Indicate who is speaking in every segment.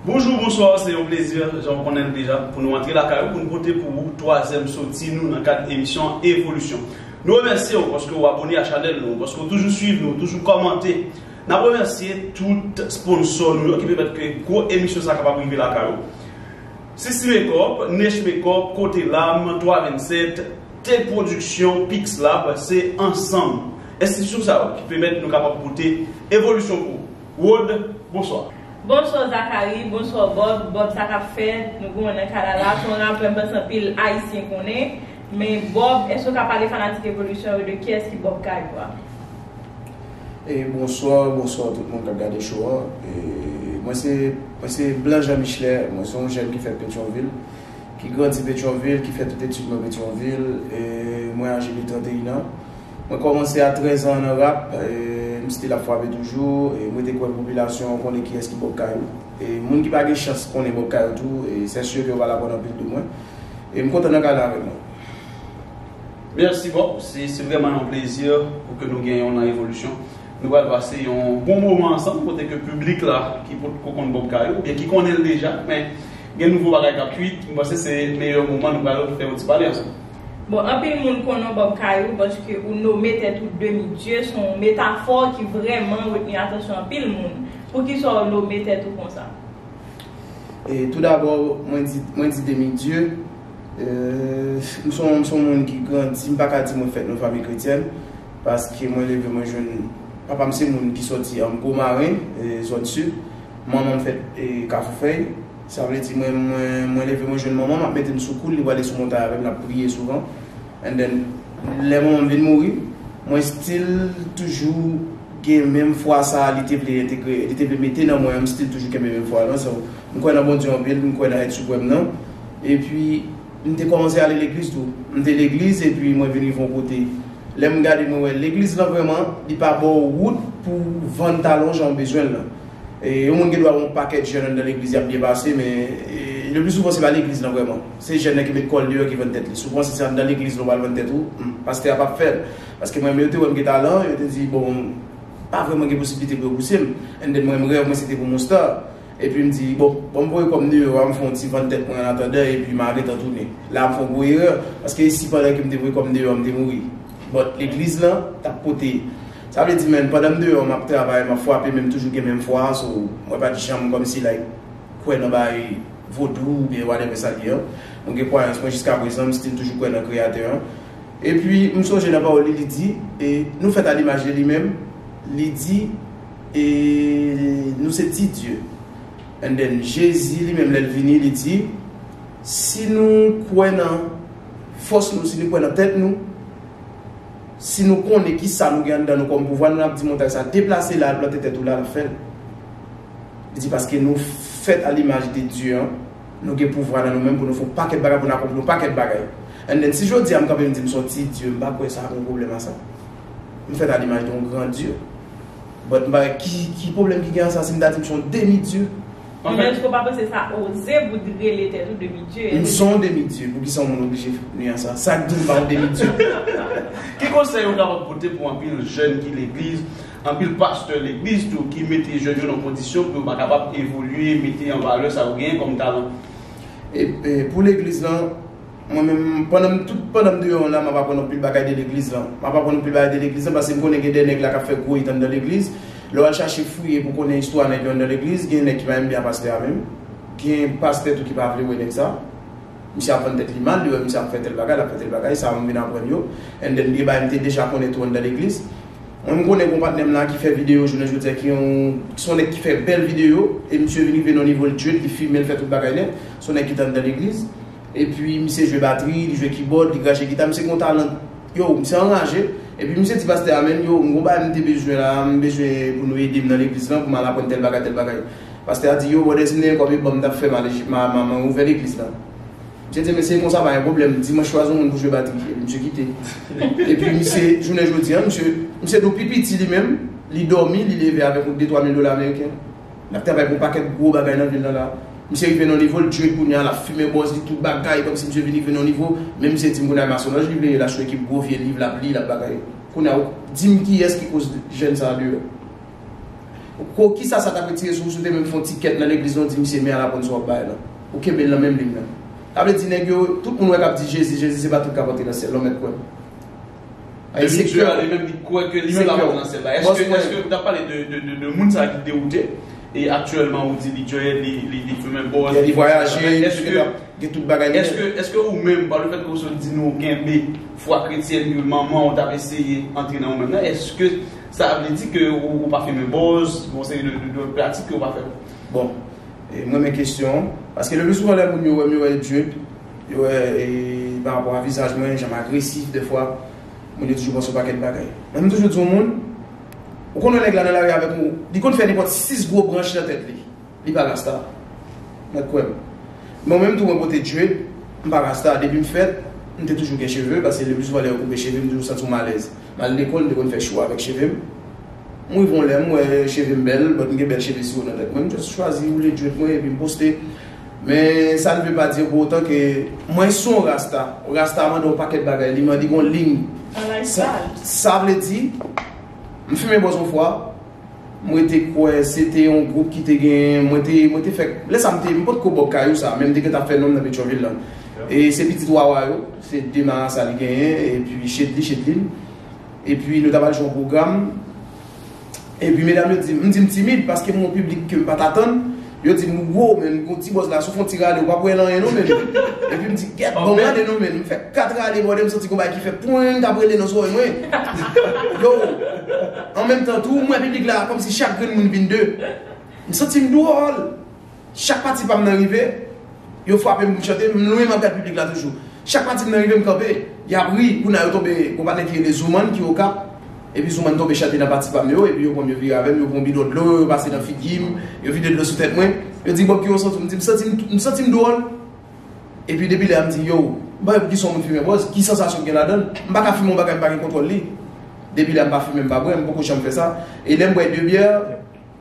Speaker 1: Bonjou, bonswa, se yon plezi, jan ou konnen deja, pou nou antre lakay ou, pou nou pote pou ou twazèm soti nou nan kad emisyon Evolisyon. Nou remèsye ou paske ou abone a chanèl nou, paske ou toujou swiv nou, ou toujou kòmante. Nap remèsye tout sponsor nou yo ki pèmèt ke gwo emisyon sa kapab rive lakay ou. Sisi Makeup, Nesh Makeup, Kote Lam, 3 27, T Production, Pixlab, se ansanm enstitisyon sa yo ki pèmèt nou kapab pote evolisyon pou ou. Rod, bonswa. Bonswa Zacharie,
Speaker 2: bonswa Bob, Bob sa kap fèt, nou konnen nan Canada la, son rapè mpanse anpil ayisyen konnen, men Bob eske ou ka pale fanatik evolisyon yo de kiyès ki Bob Kayou a?
Speaker 3: Bonsoir bonsoir tout moun kap gade show an mwen se mwen se blanc jean michelet mwen se yon jèn ki fèt petyonvil ki grandi petyonvil ki fè tout etid mwen petyonvil mwen aje de 31 ans mwen kòmanse a 13 ans nan rap m still ap frape toujou m rete kwè popilasyon an konnen kiyès ki bòk kay ou e moun ki pa gen chans konnen bòk kay ou tou sè sye ke yo pral aprann anpil de mwen m kontan nan kay la avèk mwen.
Speaker 1: Merci boo, se vreman yon plezi pou ke nou gen yon nan Revolution. Nou pral pase yon bon moman ansanm kote ke piblik la ki potko konn Bob Kayo oubyen ki konnen l deja men gen nouvo bagay kap kuit, m panse se meyè moman nou pral fè yon ti pale ansanm. Bon anpil moun
Speaker 2: konnen w Bob Kayo paske ou nome tèt ou demi dye, son w metafò ki vreman retni atansyon anpil moun. Poukisa w nome tèt ou konsa?
Speaker 3: Tout dabò mwen di demi dye. M se yon moun ki grandi, m pa ka di mwen fèt nan yon fanmi kretyèn, paske mwen leve mwen jwenn, papa m se moun ki soti an Gwo Marin, zòn sid, manman m fèt Kafoufèy, sa vle di mwen leve mwen jwenn manman m ap mete m sou kou l, li prale sou montay avè m, n ap priye souvan, and then lè manman m vin mouri, mwen still toujou gen menm fwa sa a li te vle entegre, li te vle mete nan mwen an, m still toujou kenbe menm fwa lan, so m kwè nan Bondye anpil, m kwè nan èt siprèm nan. Epi, m te kòmanse ale legliz tou. M te legliz epi mwen vin rive yon kote. Lè m gade mwen wè legliz lan vrèman, li pa ba w wout pou w vann talon jan w bezwen l lan. Yon moun gen dwa wè yon pakèt jèn anndan legliz y ap byen pase men lepli souvan se pa legliz lan vrèman. Se jèn nan ki met kò l deyò ki vann tèt li. Souvan si se anndan legliz lan w al vann tèt ou, m, pastè a p ap fè l. Paske mwen menm yo te wè m gen talan, yo te di bon, pa vrèman gen posiblite pou yo pouse m. Anndan mwen m rèv mwen se te pou m yon star. Epi m di, bon, ban m voye kòm nimewo a, m fè yon ti vann tèt mwen an atandan epi ma gentan tounen. La a m fè yon gwo erè, paske e si pandan ke m te voye kòm deyò a m te mouri? But, legliz la t ap pote. Sa vle di men, pandan m deyò m ap travay, m ap fwape men m toujou gen menm fwa a, so mwen pa t janm kòmsi like kwè nan bagay vodou oubyen whatever sa l ye an. Mwen gen kwayans mwen jiska prezan, m still toujou kwè nan kreyatè an. Epi m sonje nan pawòl li, li di, e nou fèt a limaj de li menm, li di. E nou se ti dye. And then Jezi li menm lè l vini li di si nou kwè nan fòs nou, si nou kwè nan tèt nou, si nou konnen ki sa nou gen anndan nou kòm pouvwa, nou ap di montay sa deplase la al plante tèt ou la lap fè l. Li di paske nou fèt a limaj de Dye an, nou gen pouvwa nan nou menm pou nou fè yon pakèt bagay, pou nou akonpli yon pakèt bagay. And then si jodi a m kanpe m di m son ti dye, m pa kwè sa ap yon pwoblèm a sa. M fèt a limaj de yon gran Dye. But m pa wè ki pwoblèm ki gen an sa si m ta di m se yon demi dieu. Ou menm eske w pa
Speaker 2: panse sa oze pou t rele tèt ou demi dieu? M se yon demi dieu
Speaker 3: pou kisa yon moun oblije ni an sa? Sak di m pa yon demi dieu? Ki
Speaker 1: konsèy ou kapab pote pou anpil jèn ki legliz, anpil pastè legliz tou ki mete jèn yo nan kondisyon pou yo pa kapab evolye, mete an valè sa yo genyen kòm talan?
Speaker 3: Pou legliz lan. Mwen menm, pandan m, tout pandan m deyò an la, m ap aprann anpil bagay de legliz lan. M ap aprann anpil bagay de legliz lan paske m konnen gen de nèg la k ap fè gwo it anndan legliz. Lè w al chache fouye pou w konnen istwa nèg yo anndan legliz, gen nèg ki pa menm byen a pastè a menm. Gen pastè tou ki pa vle wè nèg sa. Misye ap vann tèt li mal, li wè misye ap fè tèl bagay, l ap fè tèl bagay, sa m vin aprann yo. And then gen bagay m te deja konnen tou anndan legliz. Mwen m konnen gon patnè m la ki fè videyo jounen jodi a ki yon, s on nèg ki fè bèl videyo e misye vin rive nan yon nivo l djwet, li filme, l fè tout bagay nèt. S on nèg ki te anndan legliz. Epi misye jwe batri, li jwe kibòd, li krache gita, misye gen yon talan, yow misye anraje, epi misye di pastè a menn yow m gen yon bagay m te bezwen la, m bezwen pou nou ede m nan legliz lan pou m al aprann tèl bagay tèl bagay. Pastè a di yow brother si m te gen kòb e banm m tap fè mal m ouvè legliz la. Misye di men si e konsa pa gen pwoblèm, dimanch chwazi yon moun pou jwe batri, epi misye kite. Epi misye jounen jodi an misye misye tou pi piti li menm, li dòmi li leve avèk yon de twa mil dola ameriken. Nap travay pou pakèt gwo bagay nan vil la la. Misye rive nan yon nivo l djue kounya lap fimen bòz li tout bagay kòmsi misye vin rive nan yon nivo menm misye dim kounya masonlòj li vle ye la sou ekip gwo vye liv lap li lap bagay kounya ou dim kiyès ki koz jèn sa deyò ou kisa sa tap retire sou ou si ou te menm fon ti kèt nan legliz lan ou di misye men ala bòn sa wap bay la ou kenbel nan menm liy nan sa vle di nèg yo tout moun wè kap di jezi jezi se pa tout kap antre nan syèl non mèt kwèm.
Speaker 1: Ayy se kè li menm li kwè ke li se pa potansyèl la eske eske ou ta pale de moun sa ki dewoute e aktyèlman ou di li djòyè li fimen bòz li vwayaje eske
Speaker 3: gen tout bagay li eske eske
Speaker 1: ou menm pa le fèt ke ou sot di nou ou kenbe fwa kretyèn ke manmanw tap eseye antre nan ou menm nan eske sa vle di ke ou pa fimen bòz bon se yon de pratik ke ou pa fè bon
Speaker 3: mwen men kestyon paske le pli souvan lè moun yo wèm yo wè djòyè Yo wè e pa rapò a vizaj mwen, jan m agresif dèfwa, moun yo toujou panse yon pakèt bagay. Men m toujou di yon moun, ou konn wè nèg la nan lari avèk ou, li konn fè nenpòt 6 gwo branch nan tèt li. Li pa rasta. Mèt kwè m. Men ou menm tou mwen pote dread, m pa rasta. Depi m fèt, m te toujou gen cheve, pase le pli souvan lè yo koupe cheve m toujou santi yon malèz. M al lekòl, m te konn fè chou avèk cheve m. M rive yon lè, m wè cheve m bèl, bòt m gen bèl cheve siro nan tèt mwen. M just chwazi woule dread mwen epi m poste. Men sa n ve pa di pou otan ke mwen se yon rasta. Rasta mande yon pakèt bagay. Li mande yon liy. Sa vle di, m fimen bòz yon fwa, mwen te kwè se te yon gwoup ki te gen, mwen te, mwen te fèk, lè sa m te, m pot ko bò kayou sa, men m te gentan fè non m nan Petyonvil la. E se pitit Wawa yo, se 2 marasa li genyen, epi chet li, chet li. Epi nou ta pral jwe yon pwogram. Epi medam yo di m, m di m timid paske m gen yon piblik ke m pa t atann, yo di m ou gwo men, gwo ti bòz la si w fè yon ti rale ou pa p wè l anyen non men. Epi m di gèt bon gade non men, m fè 4 rale bòdè m santi gen yon bagay ki fè pwing k ap rele nan zòrèy mwen. Yo, an menm tan tou m wè piblik la kòmsi chak grenn moun vin 2. M santi m dwòl. Chak pati pa m nan rive, yo frape m pou m chante, m lwen mantè piblik la toujou. Chak pati m nan rive m kanpe, y ap ri, kou n a yo tonbe, gon patnè ki rele Zoumann ki Okap, epi Zoumann tonbe chante nan pati pa m yo, epi yo pran m yo vire avè m, yo pran yon bidon dlo, yo pase nan figi m, yo vide dlo sou tèt mwen, yo di Bob kijan w santi w, m di m santi m, m santi m dwòl. Epi depi lè a m di yow, m pa wè poukisa yon moun fimen bòz, ki sansasyon gen ladan l, m pa ka fimen yon bagay m pa gen kontwòl li. Depi lè a m pa fimen m pa bwè, m poko janm fè sa, e lè m bwè 2 byè,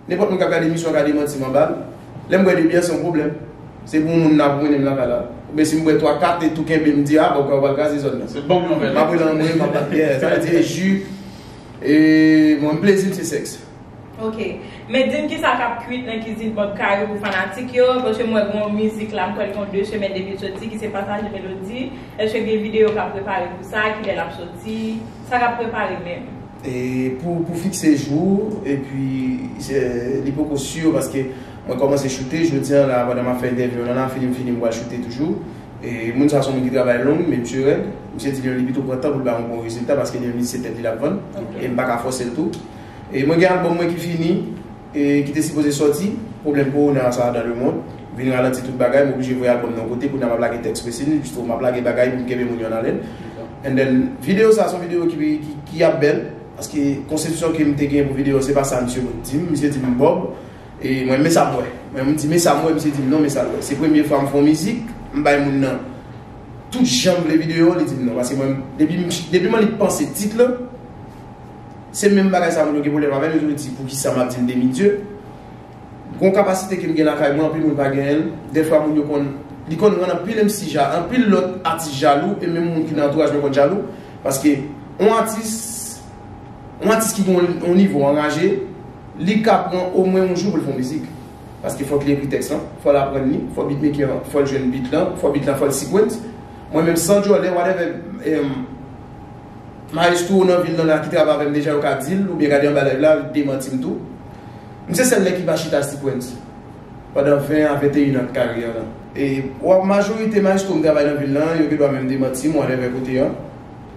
Speaker 3: Nenpòt moun kap gade emisyon an ka demanti m anba l. Lè m bwè 2 byè se yon pwoblèm. Se pou yon moun nan abwonen m lakay la. Oubyen si m bwè 3, 4 e tou kenbe m di a bon kwen ou pral kraze zòn nan. Se banm yon vè lèt. M ap rele
Speaker 1: anmweyy m ap bat byè.
Speaker 3: Sa vle di e ju. E mwen m plezi m se sèks. Ok.
Speaker 2: Men di m kisa kap kwit nan kizin Bob Kayou pou fanatik yo. Paske m wè gen yon mizik la m kwè l gen 2 semèn depi l soti ki se Pataje Melodi. Eske gen videyo kap prepare pou sa? Kilè lap soti? Sa kap prepare menm?
Speaker 3: Pou fikse jou epi li poko sur paske mwen komanse choute jodi an la pandan map fè entèvyou an la fini m fini m pral choute toujou moun sa son moun ki travay long men misye rèd misye di li pito pran tan poul bay yon bon rezilta paske li menm li se tèt li lap vann e m paka fòsel tou mwen gen album mwen ki fini. ki te sipoze sòti, pwoblèm kowona sa a dan le mond, vin ralanti tout bagay, m oblije voye album nan yon kote, kounye a m ap lage tèks Fressini, bistro, m ap lage bagay pou m kenbe moun yo an alèn, and then videyo sa a se yon videyo ki ap bèl, paske konsepsyon ke m te genyen pou videyo an se pa sa misye vin di m, misye di m Bob, e mwen men sa m wè, mwen m di men sa m wè, misye di m non men sa l wè, se premye fwa m fè yon mizik, m bay moun nan tout jan m vle videyo an, li di m non, paske mwen m depi m annik panse tit lan. Se menm bagay sa moun yo gen pwoblèm avè m, yo toujou di poukisa m ap di m demi dye. Gon kapasite ke m gen lakay mwen anpil moun pa genyen l, dèfwa moun yo konn, li konn rann anpil MC ja, anpil lòt atis jalou e menm moun ki nan antouraj mwen konn jalou paske yon atis, yon atis ki gen yon nivo anraje, li ka pran omwen yon jou pou l fè yon mizik paske fòk li ekri tèks lan, fò l aprann li, fò beatmaker an, fò l jwenn beat lan, fò beat lan fò l sequence. Mwen menm san djòlè whatever. Maestro nan vil nan la ki travay avèm deja yo ka dil oubyen gade anba live la al demantim tou. M se sèl nèg ki pa chita sequence pandan 20 a 21 an karyè lan. Waw majorite maestro m travay nan vil lan yo gendwa menm demantim whatever kote an.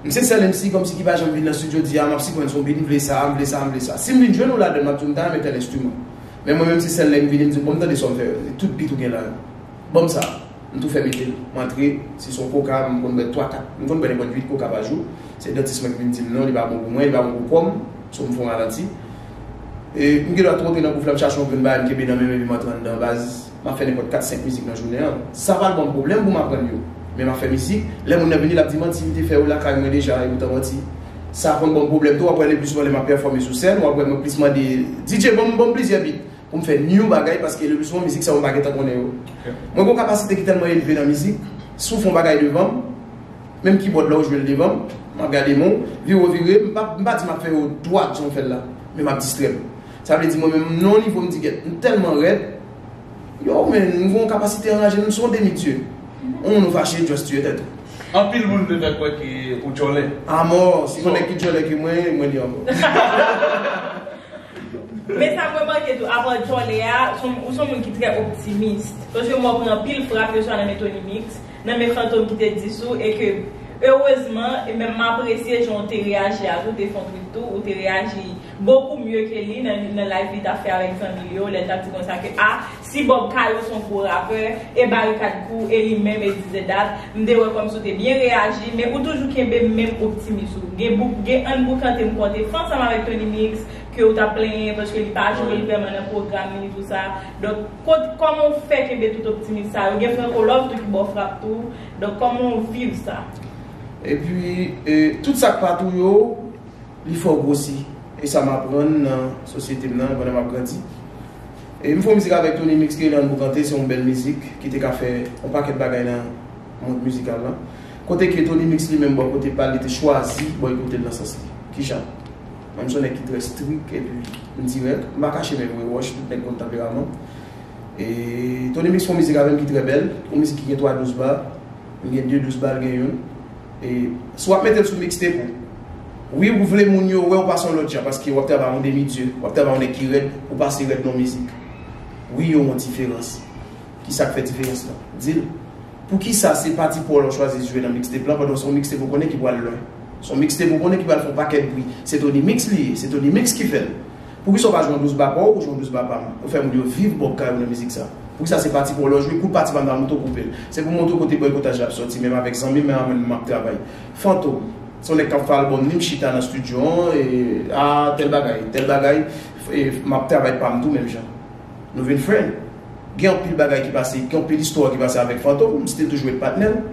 Speaker 3: M se sèl MC kòmsi ki pa janm vin nan studio di a map sequence yon beat m vle sa, m vle sa, m vle sa. Sim vin jwenn ou ladann map diw m ta renmen tèl instrument. Men mwen menm se sèl lèm vini m diw banm tande sòm fè yo. Tout beat ou gen la yo. Banm sa. M tou fè mete l. M antre, si s on koka, m konn bwè 3, 4, m konn bwè nenpòt 8 koka pa jou. Se dantis mwen ki vin di m non, li pa bon pou mwen, li pa bon pou kò m, so m fè yon ralanti. E, m gendwa twonpe nan bouf la, m chache yon grenn bagay m kenbe nan men m epi m antre anndan. Baz, m ap fè nenpòt 4, 5 mizik nan jounen an. Sa pa l ban m pwoblèm pou m aprann yo. Men m ap fè mizik, lè moun nan vini l ap di manti li te fè yo lakay mwen deja, e poutan manti. Sa konn ban m pwoblèm tou, w ap wè leplissouvan lè m ap pèfòme sou sèn, w ap wè mwen plis mande DJ ban m, ban m plizyè bit. pou m fè new bagay paske le plus souvent mizik sa yo m pa gentan konnen yo. Mwen gon kapasite ki tèlman elve nan mizik, si w fon bagay devan m, menm kibòd la ou jwe l devan m, m ap gade men w, vire w vire, m pa m pa di m ap fè yo dwat jan w fè l la, men m ap distrè m. Sa vle di mwen menm m nan yon nivo m di gèt m tèlman rèd, yow men m gon kapasite anraje m, m son demi dye. On moun ou fache just tuye tèt ou. Anpil moun te
Speaker 1: fè kwè ke ou djòlè. Amò, si gon
Speaker 3: nèg ki djòlè ke mwen, mwen li ankò.
Speaker 2: Men sa m remake tou, avan Djòlè a, ou s on moun ki trè optimis. Paske m wè w pran anpil frap, yo swa nan men Tony Mix, nan men Fantom ki te dis ou, e ke erezman, e menm m apresye jan w te reyaji a tou, w te fè yon twit tou, ou te reyaji bokou mye ke li nan layv li t ap fè avèk zanmi l yo, lè l t ap di konsa ke a, Si Bob Kayo son gwo rapè, e Barikad kou, e li menm, e dizedad, m te wè kòmsi w te byen reyaji, men ou toujou kenbe menm optimis ou. Gen bouk, gen ann boukante m konte fè ansanm avèk Tony Mix, ke ou t ap plenyen paske li pa jwe l vrèman nan pwogram li ni tou sa. Donk, kot, kòman w fè kenbe tout optimis sa yo? Gen Franco Love tou ki ba w frap tou. Donk, kòman w viv sa? Epi,
Speaker 3: e, tout sa k pa tou yo, li fè w gwosi. E sa m aprann nan sosyete m nan pandan m ap grandi. M fè yon mizik avèk Tony Mix Keylan Boukante se yon bèl mizik ki te ka fè yon pakèt bagay nan mond mizikal la. Kote ke Tony Mix li menm bò kote pa l li te chwazi bòykote l nan sans li. Kijan? Mwen m son nèg ki trè strik epi m dirèk, m pa kache menm mwen wòch, tout nèg konn tanperaman. E Tony Mix fè yon mizik avè m ki trè bèl, yon mizik ki gen 3 dous ba. M gen 2 dous bal gen youn e si wap metel sou mixtape ou wi ou vle moun yo wèw pase yon lòt jan paske wap travay yon demi dieu wap travay yon nèg ki rèd ou pase rèd nan mizik wi yo yon diferans kisak fè diferans lan dil poukisa se pati paw la ou chwazi jwe nan mixtape lan pandan se yon mixtape ou konnen ki pwal lwen se yon mixtape ou konnen ki pwal fè yon pakèt bwi se Tony mix li ye se Tony mix ki fèl. Poukisa ou pa jwen douz ba paw ou jwen douz ba pam ou fè moun yo viv bòk kay ou nan mizik sa poukisa se pati paw lèw jwe kout pati pam nan moutre w koupel se pou moutre w kote bòykotaj la ap sòti menm avèk zanmim menm avèm map travay fantom se yon nèg kap fè album li mchita nan studio an aa tèl bagay tèl bagay map travay pam tou menm jan nou vin friend gen anpil bagay ki pase gen anpil istwa ki pase avèk fantom m stil toujou ret patnèl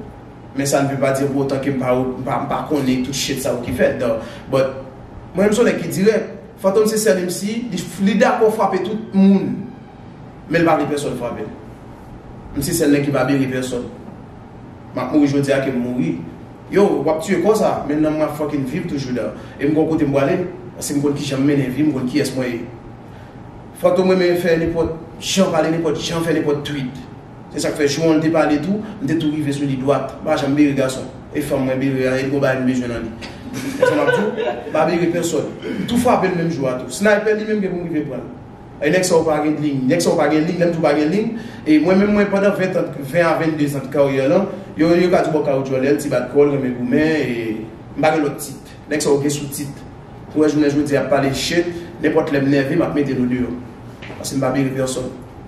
Speaker 3: men sa ne veut pas dire pou otan ke mpa konnen tout shit sa yo ki fèt but mwen menm se yon nèg ki dirèk. Fantom se sèl MC li dakò frape tout moun menl pa vle pèsòn frapel m se sèl nèg ki pa bere pèsòn map mouri jodia kem mouri yow wap tiye kò sa men nanm mwen ap fucking viv toujou da e m gon kote m pwale paske m konn kijan m mennen vim m konn kiyès mwen ye Fantom renmen fè nenpòt jan pale nenpòt jan fè nenpòt tweet. Se sak fè jou an l te pale tou, m te tou rive sou li dwat. M pa janm bere gason. E fanm mwen bere a, e li gon bagay m bezwen nan li. Men sa m ap di w, m pa bere pèsòn. M tou frape l menm jou a tou. Snaypè li menm gen pou m rive pran l. E nèg sa yo pa gen dling. Nèg sa yo pa gen ling. Lè m di w pa gen ling, e mwen menm mwen pandan 20 tan, 20 a 22 zan de karyè lan, yo yo ka di w bon kawotjòlè l, ti bat kò l, renmen goumen, e m pa gen lòt tit. Nèg sa yo gen sou tit. Pou wè jounen jodi a y ap pale shit, nenpòt lè m nève m ap mete l odeyò. Paske m pa bere pèsòn.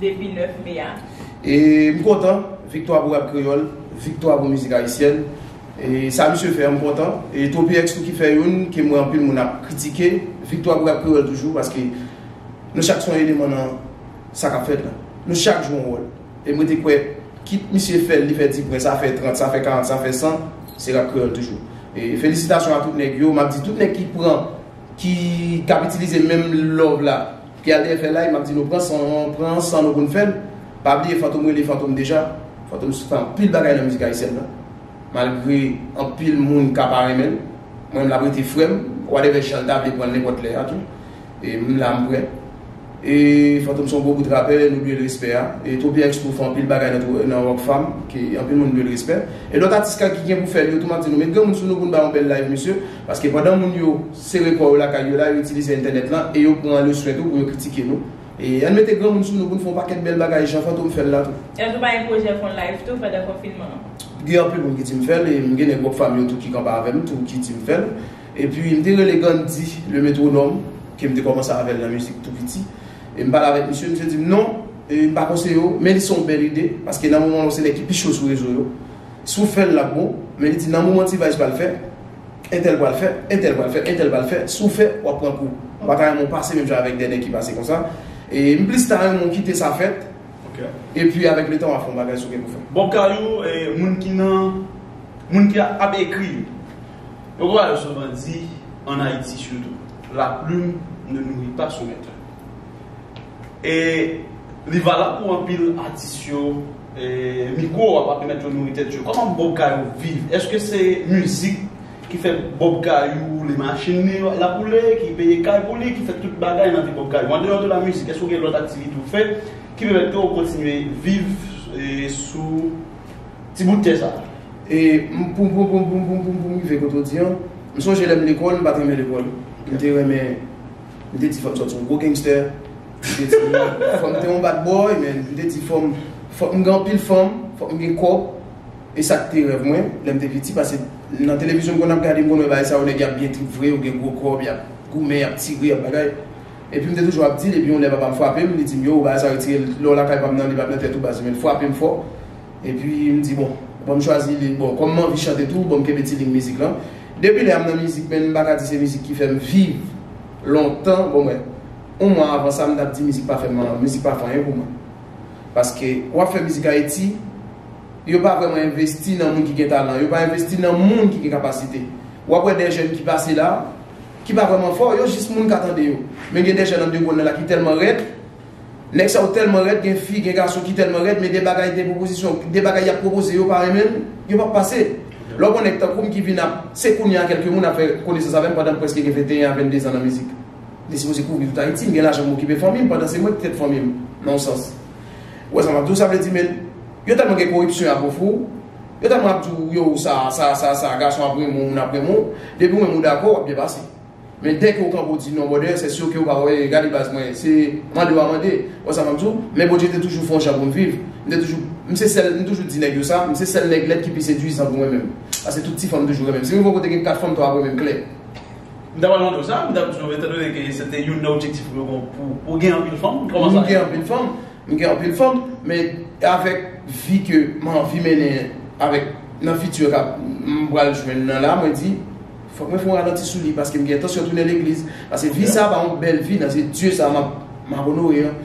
Speaker 2: depi 9 me a. E m
Speaker 3: kontan, viktwa pou rap kreyòl, viktwa pou mizik ayisyèn. E sa misye fè an m kontan. E Tropyx tou ki fè youn ke m wè anpil moun ap kritike. Viktwa pou rap kreyòl toujou paske nou chak son eleman nan sa k ap fèt la. Nou chak jwe yon wòl. E m rete kwè kit misye fè l, li fè ti pwen, sa fè 30, sa fè 40, sa fè 100, se rap kreyòl toujou. E felisitasyon a tout nèg yo. M ap di tout nèg ki pran, ki ap itilize menm love la. Pia te fè lay map di nou pran san an pran san nou poun fèl pa bliye fantom rele fantom deja fantom fè anpil bagay nan mizik ayisyèn nan malgre anpil moun ka pa renmenl mwen menm lap rete frèm wadèvè janl ta vle pranl nenpòt lè a tou m la m prè e fantom son gwo bout rapè nou dwel respè a e tropyèks tou fè anpil bagay nan rockfam ke anpil moun dwel respè e lòt atis ki gen pou fèl yo tou map di nou met granmoun sou nou poun ba yon bèl live mesye paske pandan moun yo Sere kò yo lakay yo la, yo itilize entènèt lan e yo pran le swen tou pou yo kritike nou. E ann mete granmoun sou nou pou n fè yon pakèt bèl bagay jan Fantom fè l la tou. E w tou pa gen pwojè
Speaker 2: fon live tou pandan konfinman an? Gen anpil moun ki
Speaker 3: di m fè l e m gen nèg Rock Fam yo tou ki kanpe avè m tou ki di m fè l. Epi m te rele Gandhi le Métronome ke m te kòmanse avè l nan mizik tou piti. E m pale avèk misye, misye di m non, e m pa konseye w, men li se yon bèl ide paske nan moman an ou se nèg ki pi cho sou rezo yo. Si w fè l l ap bon, men li di nan moman T-Vice pral fè, Entèl pral fè, entèl pral fè, entèl pral fè, si w fè, w ap pran kou. Mwen pa ta renmen w pase menm jan avèk Dènè ki pase konsa. E m plis ta renmen w kite sa fèt, epi
Speaker 1: avèk letan
Speaker 3: w a fè yon bagay si w gen pou fè. Bob Kayou,
Speaker 1: moun ki nan, moun ki ap ekri yo, yo konn ba yo sou bandi, an Ayiti sitou. La plume ne nourrit pas son maître. E li valab pou anpil atis yo. E mikwo a pa pèmèt yo nouri tèt yo. Kòman Bob Kayou viv? Eske se mizik ki fè Bob Kayou woule machin li yo lap woule, ki peye kay pou li, ki fè tout bagay nan vi Bob Kayou? Andeyò de la mizik, eske ou gen lòt aktivite ou fè ki pèmèt ke ou kontinye viv sou ti bout tè sa? E
Speaker 3: pou m rive kote ou di an, m sonje lè m lekòl, m pat renmen lekòl. M te renmen. M te di fò m sòti yon gwo gangster, m te di fò m te yon bad boy men m te di fò m fòk m gen anpil fanm, fòk m gen kòb e sa k te rèv mwen lè m te piti pase nan televizyon m konn ap gade m konn wè bagay sa yo nèg y ap byen trip vre yo gen gwo kòb y ap goumen y ap tire y ap bagay epi m te toujou ap di l epi yon lè papa m frape m li di m yow bagay sa yo retire l lè w lakay pa m nan li pa t nan tèt ou baz men frape m fò. Epi m di bon, bon m chwazi li, bon kòm m anvi chante tou, bon m kenbe ti liy mizik lan. Depi lè a m nan mizik men m pa ka di se mizik ki fè m viv lontan, bon mwen yon mwa avan sa m t ap di mizik pa fè m, mizik pa fè anyen pou mwen. Paske w ap fè mizik Ayiti, yo pa vrèman envesti nan moun ki gen talan, yo pa envesti nan moun ki gen kapasite. W ap wè de jèn ki pase la, ki pa vrèman fò, yo jis moun ka tande yo. Men gen de jèn andegonn la ki tèlman rèd. Nèg sa yo tèlman rèd gen fi gen gason ki tèlman rèd men de bagay de pwopozisyon de bagay yap pwopoze yo pa renmen yo pap pase lè w pran nèg tankou m ki vin ap se kounye a kèlke moun ap fè konesans avè m pandan m prèske gen 21 a 22 zan nan mizik li sipoze kouvri tout Ayiti m gen lajan m okipe fanmi m pandan se mwen ki tèt fanmi m nan yon sans ou wè sa map di w sa vle di men yo tèlman gen koripsyon yap ofri w yo tèlman ap di w yo sa sa sa sa gason ap renmen w moun ap renmen w depi w menm ou dakò wap byen pase. Men dèke ou kanpe ou di non brother c'est sûr ke ou pa wè gade baz mwen se mande wa mande wè sa map di w men Bondye te toujou fè yon jan pou m viv m te toujou m se sèl m toujou di nèg yo sa m se sèl nèg lèd ki pi seduizan pou mwen menm paske tout ti fanm toujou renmenm si m rive yon kote gen 4 fanm 3 ap renmenm klè. M ta pral mande
Speaker 1: w sa, m ta toujou etan done ke se te youn nan objektif ou yo bon pou ou gen anpil fanm kòman sa m gen anpil fanm m gen anpil fanm men avèk vi ke m anvi mennen avèk nan futur kap m pral jwenn nan la mwen di Fòk mwen fon ralanti sou li paske m gen entansyon tounen legliz paske vi sa pa yon bèl vi nan zye Dye sa map onore an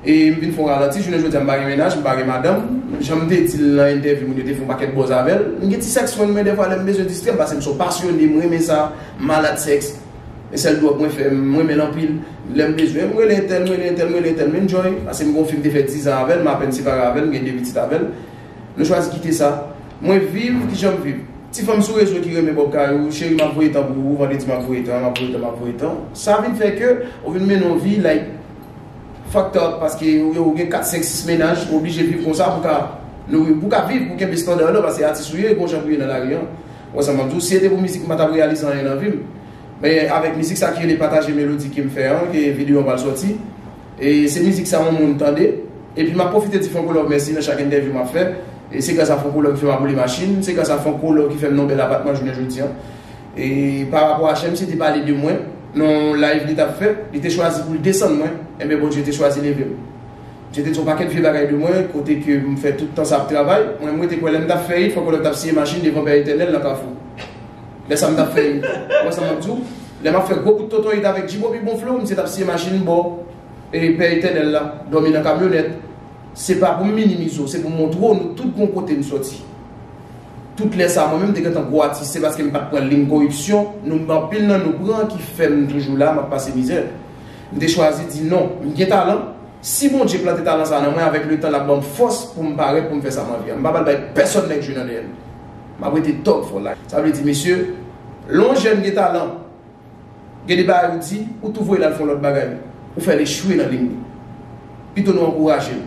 Speaker 1: e m vin fon ralanti jounen jodi a m pa gen mennaj m pa gen madanm jan m te di l nan entèvyou moun yo te fè yon pakèt bòz avè l m gen ti sèks mwen men dèfwa lè m bezwen distrè m paske m se yon pasyone m renmen sa m malad sèks e sèl dwòg mwen fè m renmen l anpil lè m bezwen m rele entèl m rele entèl m rele entèl m enjoy paske m gen yon fi m te fè dizan avè l m apèn separe avè l m gen 2 pitit avè l. Nou chwazi kite sa Mwen viv kijan m viv Ti fanm sou rezo ki renmen bòb kay ou Cheri m ap voye tan pou ou Vandredi m ap voye tan M ap voye tan m ap voye tan Sa vin fè ke ou vin mennen yon vi like Fucked up paske ou gen 4, 5, 6 mennaj Ou oblije viv konsa pou w ka nouri Pou w ka viv pou w kenbe standard ou la Paske atis ou ye e gon jan pou w ye nan lari an Ou wè sa m ap di w Si se te pou mizik m pa t ap reyalize anyen nan vi m Men avèk mizik sa ki rele Pataje Melodi ke m fè an ke videyo an pral sòti Se mizik sa yon moun tande. Epi map pwofite di Franco Love mèsi nan chak entèvyou map fè. Se gras a Franco Love ki fèm aboule machin. Se gras a Franco Love ki fèm nan yon bèl apatman jounen jodi an. E pa rapò a HM se te pale de mwen nan yon live li tap fè, li te chwazi poul desann mwen, enben Bondye te chwazi levem. Misye te di yon pakèt vye bagay de mwen, kote ke m fè tout tan sa ap travay. Mwen m rete kwè lèm tap fè it, Franco Love tap siye machin devan Pè Etènèl nan Kafou. Lè sa m tap fè Ou wè sa map di w Lè map fè gwo kout tonton it avèk G-Bobby bon flow misye tap siye machin bò e pè etènèl la Dòmi nan kamyonèt Se pa pou m minimize w se pou m montre w nou tout gon kote n sòti Tout lè sa mwen menm m te gentan gwo atis se paske m pat pran lim koripsyon nou m anpil nan nou pran ki fè m toujou la map pase mizè M te chwazi di non M gen talan Si Bondye plante talan sa nan mwen avèk letan lap ban m fòs pou m parèt pou m fè sa m anvi an M pa pral bay pèsòn nèg jwe nan dèyè m. Map rete top fo la. Sa vle di mesye, lè yon jèn gen talan, gen de bagay ou di, ou tou voye l al fè yon lòt bagay, ou fè l echwe nan liy li. Pito nou ankouraje l.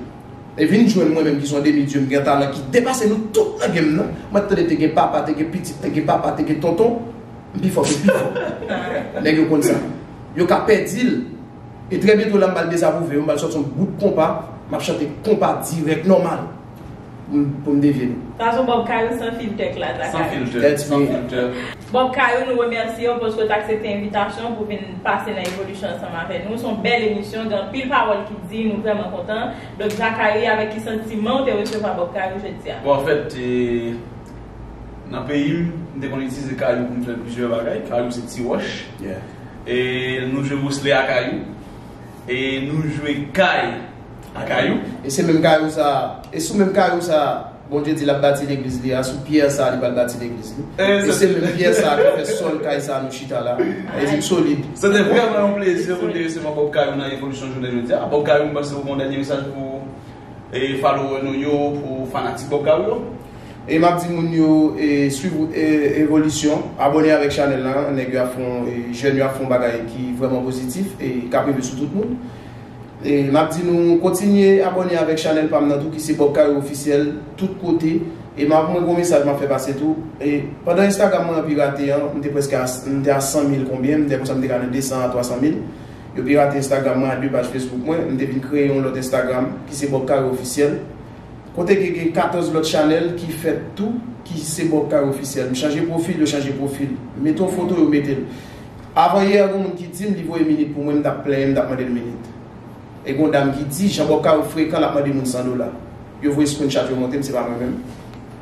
Speaker 1: E vin jwenn mwen menm ki se yon demi dieu m gen talan ki depase nou tout nan game nan, mwen tande te gen papa, te gen pitit, te gen papa, te gen tonton, m pi fò ke pi fò. Nèg yo konn sa. Yo ka pèdi l. E trè byento la m pral dezapwouve yo, m pral sòti yon bout konpa, m ap chante konpa dirèk nòmal pou m devye nou. Fason Bob Kayou
Speaker 2: san filtè klas la San kayou. filtè, Let's
Speaker 1: san go. filtè. Bob Kayou,
Speaker 2: nou remèsye w paske w t aksepte envitasyon pou w vin pase nan Evolution ansanm avè nou. S on bèl emisyon, gen anpil pawòl ki di, nou vrèman kontan. Donk Zacharie, avèk ki santiman w te resevwa Bob Kayou jodi a? Bon anfèt, e
Speaker 1: nan peyi m, m te konn itilize kayou pou m fè plizyè bagay. Kayou se ti wòch. Yeah. E nou jwe bwousle a kayou. E nou jwe kay a kayou. E se menm kayou sa
Speaker 3: a. E sou menm kayou sa a. Bondye di l ap bati legliz li a. Sou pyè sa a li pral bati legliz li. E se menm pyè sa a ki fè sòl kay sa a nou chita la. E li solid. Se te vrèman yon
Speaker 1: plezi pou m te resevwa Bob Kayou nan Evolisyon jounen jodi a. Bob Kayou m panse ou gen yon dènye mesaj pou. E follower nou yo pou fanatik Bob Gary yo. E map di
Speaker 3: moun yo e swiv evolisyon, abone avèk chanèl la, nèg yo ap fon e jèn yo ap fon bagay ki vrèman pozitif e kap rive sou tout moun. E map di nou kontinye abone avèk chanèl pam nan tou ki se Bob Gary Officiel tout kote. E map mwen gon mesaj map fè pase tou. E pandan Instagram mwen an pirate an, m te preske a m te a 100 mil konbyen, m dè konsa m te ka nan 200 a 300 mil. Yo pirate Instagram mwen ak 2 paj Facebook mwen, m te vin kreye yon lòt Instagram ki se Bob Carré Officiel, kote ke gen 14 lòt chanèl ki fèt tou ki se Bob Carré Officiel. M chanje pwofil, yo chanje pwofil. M mete yon foto, yo mete l. Avan yè a gen yon moun ki di m li voye minit pou mwen, m t ap plenyen, m t ap mande l minit. E gen yon dam ki di, jan Bob Carré frekan l ap mande moun 100 dola. Yo voye screenshot yo monte m, se pa mwen menm.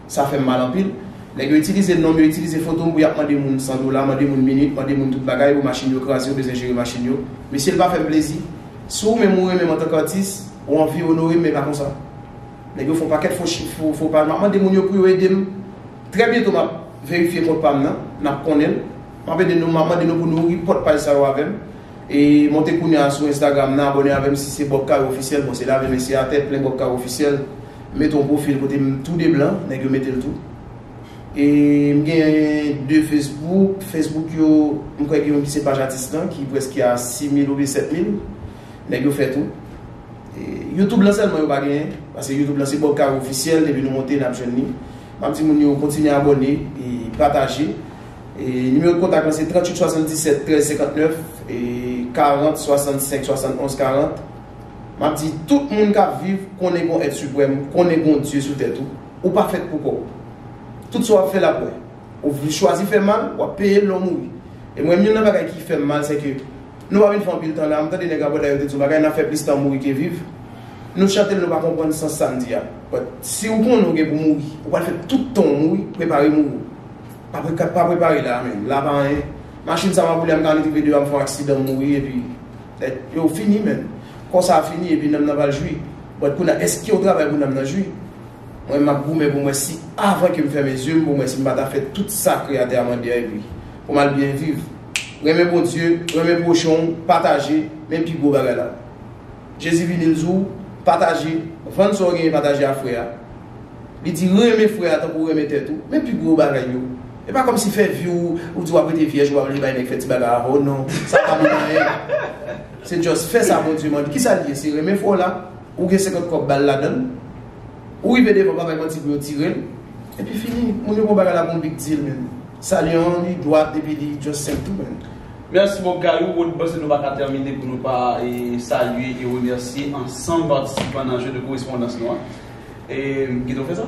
Speaker 3: Sa fèm mal anpil. Nèg yo itilize nom yo itilize fotom pou yap mande moun 100 dola, mande moun minit, mande moun tout bagay, ou machin yo kraze ou bezwen jere machin yo. Mesye l pa fèm plezi. Si ou menm ou renmenm antan k atis, ou anvi onorem men pa konsa. Nèg yo fon pakèt fo chif, fo paj map mande moun yo pou yo edem. Trè byento map verifye kont pam nan, nap konnenl. Map ede nou, map mande nou pou nou report paj sa yo avèm. E monte kounya sou Instagram nan abone avèm si se Bob Caro officiel, bon se lave men se atè plen Bob Caro officiel. M met yon pwofil kote m tou de blan, nèg yo mete l tou. E m gen 2 fesbouk, fesbouk yo m kwè gen yon ki se paj atis lan ki prèske a 6 mil oubyen 7 mil. Nèg yo fè tou. E youtube lan sèlman yo pa genyen, pase youtube lan se Bob Caro ofisyèl depi nou monte n ap jwenn li. M ap di moun yo kontinye abòne e pataje. E nimewo kontak lan se 38 77 13 59 e 40 65 71 40. M ap di tout moun k ap viv, konnen gon Èt Siprèm, konnen gon Dye sou tèt ou, ou pa fèt pou kò w. Tout sa w ap fè l ap wè. Ou chwazi fè mal, w ap peye l lè w mouri. E mwen menm youn nan bagay ki fè m mal se ke nou pa vin fè anpil tan la, m tande nèg Rabòday yo te di yon bagay, n ap fè plis tan mouri ke viv. Nou chante l nou pa konprann sans sa n di a. But, si ou konnen ou gen pou mouri, ou pral fè tout tan w mouri, prepare mouri w. Pa prepare la a menm, la a pa anyen. Machin sa m ap woule a m ka annik rive deyò a m fè yon aksidan m mouri epi. Nèg yo fini menn. Kò sa a fini epi nanm nan pral jwi. But kounye a èske ou travay pou nanm nan jwi? Mwen menm map goumen pou m wè si avan ke m fèmen zye m pou m wè si m pa ta fè tout sa kreyatè a mande a epi pou m al byen viv. Renmen Bondye, renmen pwochen w, pataje, men pi gwo bagay la. Jezi vini l di w, pataje, vann sa w genyen pataje a frè a. Li di renmen frè a tankou w renmen tèt ou, men pi gwo bagay yo. E pa kòmsi fè vi w ou di w ap rete vyèj ou pa vle bay nèg fè ti bagay avè w non sa pa bon anyen se just fè sa Bondye mande kisa l ye se renmen fwa w la ou gen 50 kòb ba l ladan l ou rive devan pa bay manti pou yo tire l epi fini moun yo pran bagay la pou yon big deal menn sa l ye an li dwat epi li just senp tou menn. Merci boo bgay
Speaker 1: ou wood panse nou paka termine pou nou pa salye e remèsye ansanm patisipan nan jeu de correspondance nou an. E m kite w fè sa?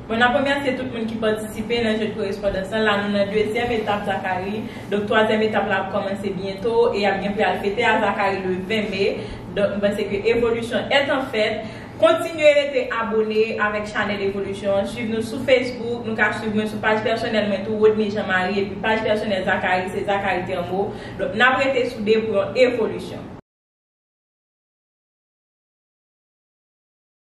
Speaker 1: Mwen ap remèsye
Speaker 2: tout moun ki patisipe nan je de korespondans lan. La nou nan dezyèm etap Zakari. Donk twazyèm etap la ap kòmanse byento e y ap gen pou y al fete a Zakari le 20 me. Donk m panse ke evolisyon est en fait. Kontinye rete abone avèk chanèl evolisyon an. Swiv nou sou Facebook. Nou ka swiv mwen sou paj pèsonèl mwen tou Rodney Jean Marie epi paj pèsonèl Zakari se Zakari Thermeau. Donk n ap rete soude pou yon evolisyon.